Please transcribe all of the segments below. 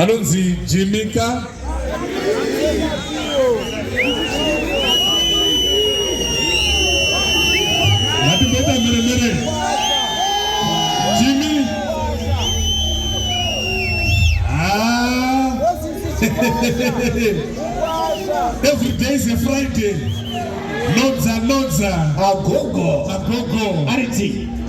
Anonzi Jimika. Ngatimbeta mere mere. Jimmy. Ah. Every day is a Friday. Nodza nodza. Agogo. Agogo. Ariti.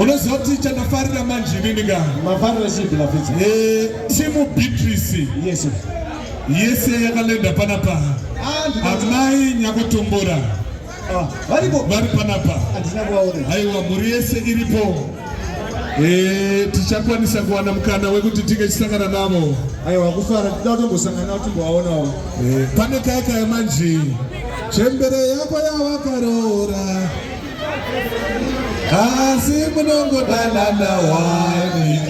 unoziva kuti chandafarira manje inini ka mafarira chipi lafisa eh, timu beatrice yes yese yakalenda panapa ah, amai nyakutumbura ah, vari panapa aiwa mhuri yese iripo eh, tichakwanisa kuwana mukana wekuti tinge chisangana navo aiwa kufara tida kutombosangana navo timbovaonawo eh, pane kaya kaya manje chembere yako yawakaroora Asi munongodanana wani.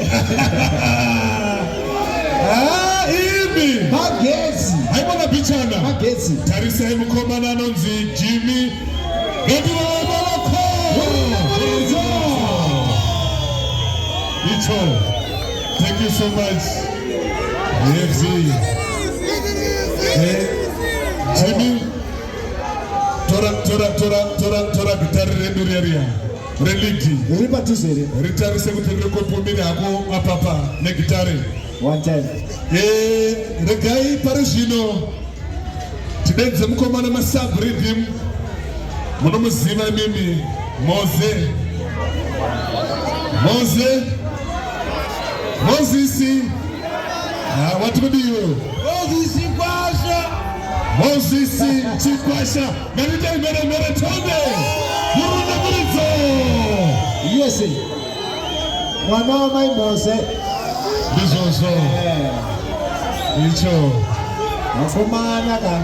Ah, imi. Magezi. Haimona pichana. Magezi. Tarisai mukomana anonzi Jimmy. Ngativaomaloko. Icho. Thank you so much. Yes. Jimmy. tora tora tora tora tora gitari redu reriya religi riri padhuze here ritarise kuti riri kupumiri hako apapa negitari one time eh regai pari zvino tidenze mukomana masub rhythm munomuziva mimi moze moze mozisi ah, wati kudiwe mozisi kwasha Moses Chikwasha, Marita Mbere Mbere Tonde, Murunda Muridzo. Yes, mwana wa mai Mose. Ndizvozvo. Eh. Icho. Vakomana ka.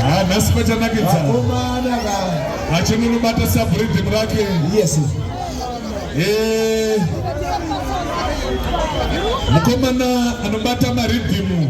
Ah, nhasi pachanakidza. Vakomana ka. Achinunubata sabhuridhimu rake. Yes. Eh. Mukomana anobata maridhimu.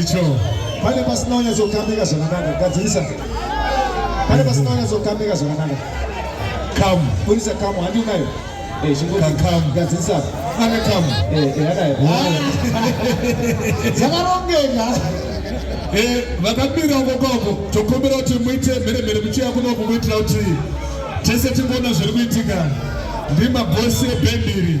icho pane pasina unyatsokamika zvakanaka gadzirisa pane pasina unyatsokamika zvakanaka kamu burisa kamu handi unayo eh, chingokakamu gadzirisa ane kamu eh, eh, anayo dzakarongeka vakamira ukokoko tokumbira kuti muite mhere mhere muchiya kunoku kuitira kuti tese tingoona zviri kuitika ndimabhosi ebhendiri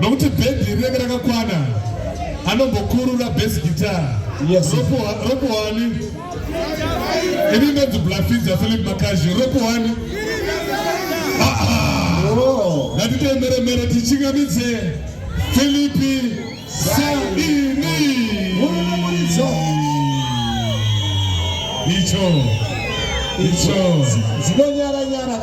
nokuti bhedhi rinenge rakakwana anombokurura bas guitar ropohwani ini inonzi blafidza philip makazi ropohwani ngatitoemeremere tichingamidze filipi saini icho icho zinonyaranyara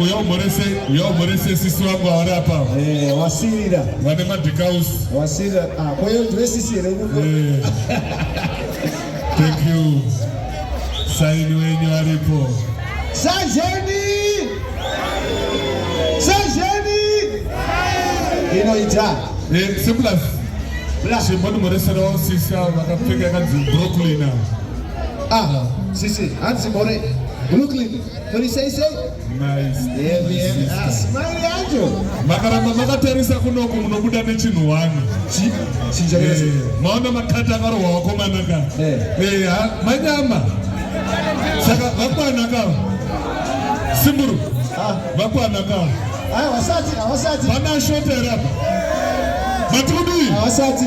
uya umhorese uya umhorese sisi wangu avari apa eh, wasirira vane madhikaus wasirira ah, kwayo ndive sisi here kuko eh. thank you saini wenyu aripo sajeni sajeni inoita eh, simplus simbotimhoreserawo sisi avo vakapfeka kanzi brooklyn avo Ah, sisi, hanzi more. Brooklyn, kuri sei sei? Nice. Yeah, yeah. Ah, smile yacho. Makaramba makatarisa kunoku munobuda nechinhu wani. Chi? Chinja eh, kese. Maona makata akarohwa wakomana ka. Eh. Eh, ha, manyama. Saka vakwana ka. Simburu. Ah. Vakwana ka. Ah, wasati, wasati. Vana shota rapa. Matudi. Wasati.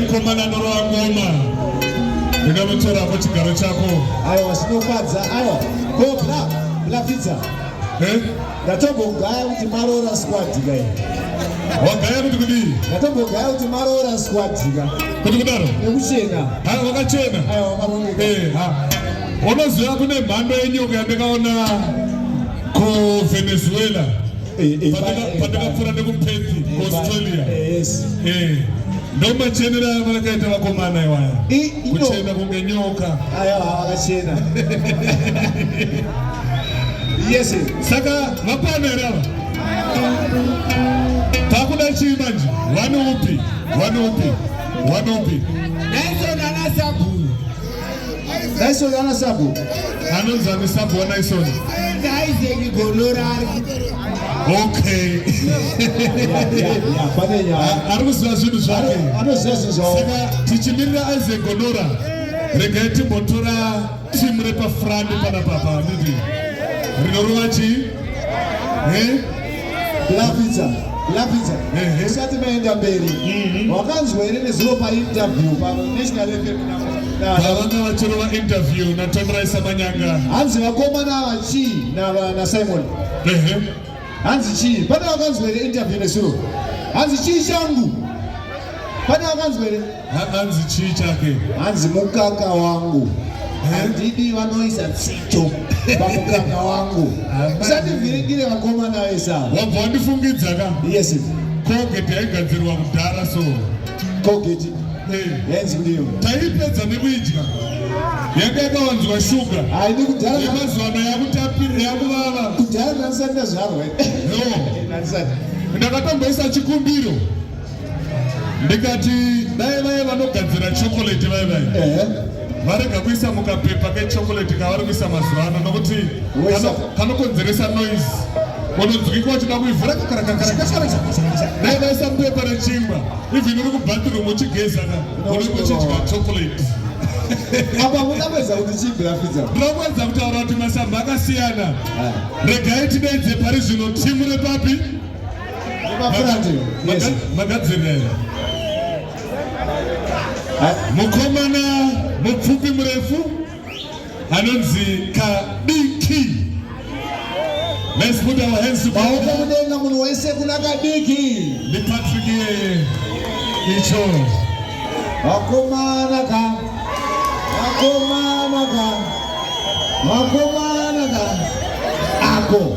Mukomana norova ngoma ndingamutorako chigaro chako aiwa zvinofadza aiwa ko bla bla pizza eh? ndatogogaya kuti maroora skwadika i wagaya kuti kudii ndatogogaya kuti maroora skwadika kuti kudaro nekuchena wakachena aiwa wakaroneka eh, Unoziva kune mhando yenyoka yandakaona kuVenezuela eh, eh, eh, pandakapfuura nekuPerth kuAustralia. ndomachenera aya vakaita vakomana iwaya kuchena kunge nyoka aya akachena yes saka vapana here ava takuda chii manje vane upi vane upi vane upi naizonanasabhu Dyson ana sabo. Anonzi ane sabo wa Dyson. Dyson Gonorari. Okay. Ari kuziva zvinhu zvake. Anoziva zvinhu zvake. Saka tichimirira Isaac Gonora. Regai timbotora timu repafrani pana papa ndidi. Rinorova chii? Eh? lapidza lapidza tisati maenda mberi mhm. wakanzwa here nezuro painterview panational fmvavanga vatorova interview natomraisa manyanga hanzi vakomana ava chii nasimon hanzi chii pane wakanzwa here interview nezuro hanzi chii changu Pane akanzwa here? Hanzi chii chake? Hanzi mukaka wangu. Eh? Handidi vanoisa tsito pamukaka wangu. Musandiviringire vakomana vese ava. Wabva wandifungidza ka? Yes. Colgate yaigadzirwa kudhara so. Colgate. Eh. Yainzi kudini? Taipedza nekuidya. Yanga yakawanzwa shuga. Haidi kudhara. Yemazuva ano yakutapira yakuvava. Kudhara ndandisati ndazvarwa. No. Ndandisati. Ndakatomboisa chikumbiro. ndikati dai vaye vanogadzira chocolate vaye vaye varega kuisa mukapepa kechocolate kavari kuisa mazuva ano nokuti kanokonzeresa noise unonzwikwa uchida kuivhura dai vaisa mupepa rechingwa even uri kubathroom uchigezana unenge uchidya chocolate apa muda kuedza kuti chii brafidza ndinokuedza kutaura kuti masamba akasiyana regai tidaidze pari zvino timu repapi magadzirira mukomana mupfupi murefu anonzi kadiki maoko mudenga munhu wese kuna kadiki ndi patrick icho vakomana ka vakomana ka vakomana ka ako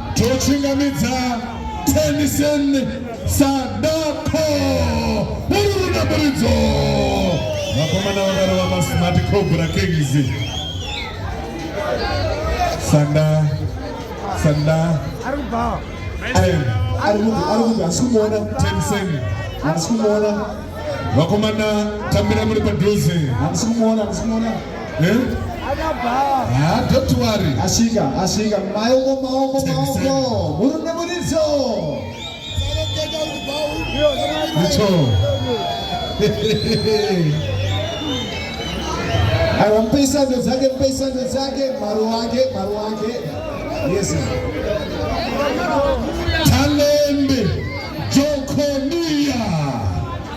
Tochingamidza Tennyson Sadako uruna muridzo vakomana vakarova masmart cobra kings sanda sanda arikumuona Tennyson arikumuona vakomana tambira muri padhuze arikumuona arikumuona Eh? Ah, don't worry. Asika, asika. Maoko, maoko, maoko. Murume muridzo. Ndicho. Aiwa mpe isando dzake, mpe isando dzake, maru wake, maru wake. Yes. Talembe Jokonia.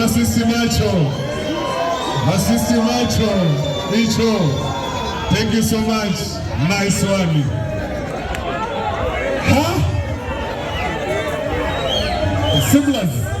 masisi macho masisi macho icho thank you so much nice one huh? Simlas.